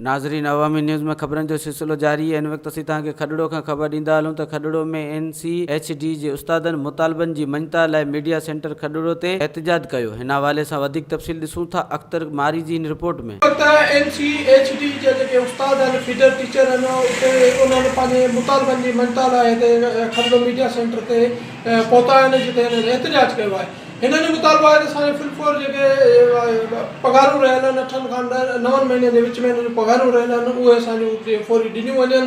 ناظرين عوامي نيوز ۾ خبرن جو سلسلو جاري هن وقت اسين توهان کي کڏڙو کان خبر ڏيندا هلون ته Khadro ۾ N C H D جي استادن مطالبن جي مڃتا لاء ميڊيا سينٽر کڏڙو تي احتجاج ڪيو هن حوالي سان وڌيڪ تفصيل ڏسون ٿا اختر ماري جي هن رپورٽ ۾. البته اين سي ايڇ ڊي جا جيڪي استاد آهن فيڊر ٽيچر آهن اتي انهن پنهنجي مطالبن جي مڃتا لاء هتي کلندو ميڊيا سينٽر تي پهتا آهن جتي هنن احتجاج ڪيو آهي هنن جو مطالبو آهي ته اسان جي فلم فور جيڪي پگهارون رهيل آهن اٺن کان نون مهينن جي وچ ۾ هنن جون پگهارون رهيل آهن اهي اسان جون فوري ڏنيون وڃن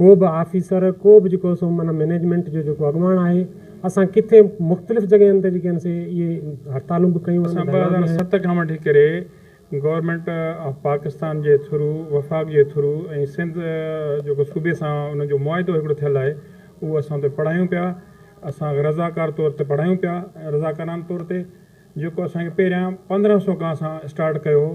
ڪو به آفيسر ڪو به جيڪو سو معنيٰ مئنيجمينٽ جو جيڪو اڳواڻ آهي اسان ڪٿي مختلف جڳهين تي جيڪي آهن سي اهي هڙتالون به ڪيون آهن ڌرڻا به هنيا. اسان ٻه هزار ست کان وٺي ڪري گورنمينٽ آف پاڪستان جي ٿرو وفاق جي ٿرو ۽ سنڌ جيڪو صوبي سان ان جو معاهدو هڪڙو ٿيل آهي اهو اسان اتي پڙهايون پيا اسان رضاڪار طور تي پڙهايون پيا رضاڪارانه طور تي جيڪو اسان کي پهريان پندرهن سو گاهه سان اسٽارٽ ڪيو هو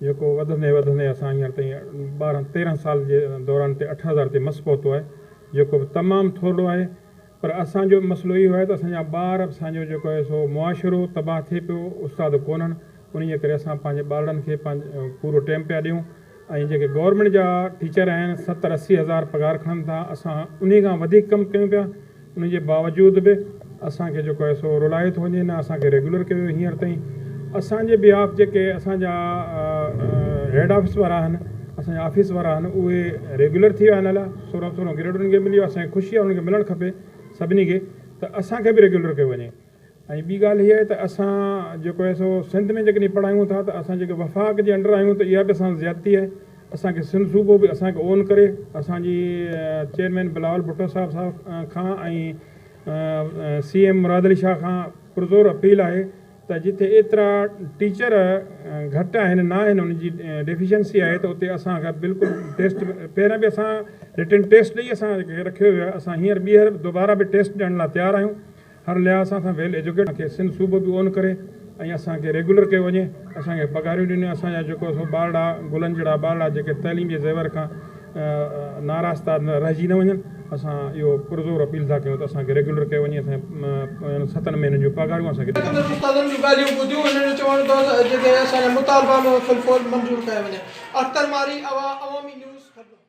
جيڪو وڌندي وڌندي اسان هينئر تائين ٻارهن تيرهن سال جي دوران تي اٺ هزار تي مس پهتو آهي جيڪو به تمام ٿورڙو آهي پر اسان جو مسئلو اهو آهي ته اسان جا ٻار اسان جو جيڪو آهي سو معاشرو تباهه ٿئي پيو استاد ڪونهن انهي جي ڪري اسان پنهنجي ٻارڙن کي پنهنجو پورو ٽيم پيا ڏيون. ۽ جيڪي گورنمينٽ جا ٽيچر آهن ستر اسي هزار پگهار کڻن ٿا اسان انهي کان وڌيڪ ڪم ڪيون پيا انهي جي باوجود به اسان کي جيڪو آهي سو رولايو ٿو وڃي نه اسان کي ريگيولر ڪيو ويو هينئر تائين اسان جي بيهاف جيڪي اسان جا هيڊ آفيس وارا آهن اسان جا آفيس وارا آهن اهي ريگيولر ٿي ويا آهن الا سورهن سورهن گريڊ انهن کي ملي ويو آهي اسان کي خوشي آهي انهن کي ملڻ کپي سڀني کي ته اسان کي به ريگيولر ڪيو وڃي. ۽ ٻي ڳالهه هيء آهي ته اسان جيڪو آهي سو سنڌ ۾ جيڪڏهن پڙهايون ٿا ته اسان جيڪي وفاق جي انڊر آهيون ته اها به اسان سان زيادتي آهي، اسان کي سنڌ صوبو به اسان کي اون ڪري اسان جي چيئرمين بلاول ڀٽو صاحب صاحب کان ۽ سي ايم مراد علي شاهه کان پرزور اپيل آهي ته جتي ايترا ٽيچر گهٽ آهن نه آهن ان جي ڊيفيشنسي آهي ته اتي اسان کي بلڪل ٽيسٽ پهريان به اسان رٽن ٽيسٽ ڏئي اسان کي رکيو ويو آهي اسان هينئر ٻيهر دوباره به ٽيسٽ ڏيڻ لاء تيار آهيون. هر لحاظ سان اسان ويل ايجوڪيٽ آهيون، اسان کي سنڌ صوبو به اون ڪري ۽ اسان کي ريگيولر ڪيو وڃي، اسان کي پگهاريون ڏنيون، اسان جا جيڪو سو ٻارڙا گلن جهڙا ٻارڙا جيڪي تعليم جي زيور کان ناراستا رهجي نه وڃن، اسان اهو پرزور اپيل ٿا ڪيون ته اسان کي ريگيولر ڪيو وڃي، اسان جي ستن مهينن جون پگهاريون اسان کي ڏنيون وڃن. استادن جون ڳالهيون ٻڌيون، هنن جو چوڻ هوندو آهي ته جيڪڏهن اسان جا مطالبا به فل فور منظور ڪيا وڃن. اختر مارئي، عوامي نيوز، کڏنو.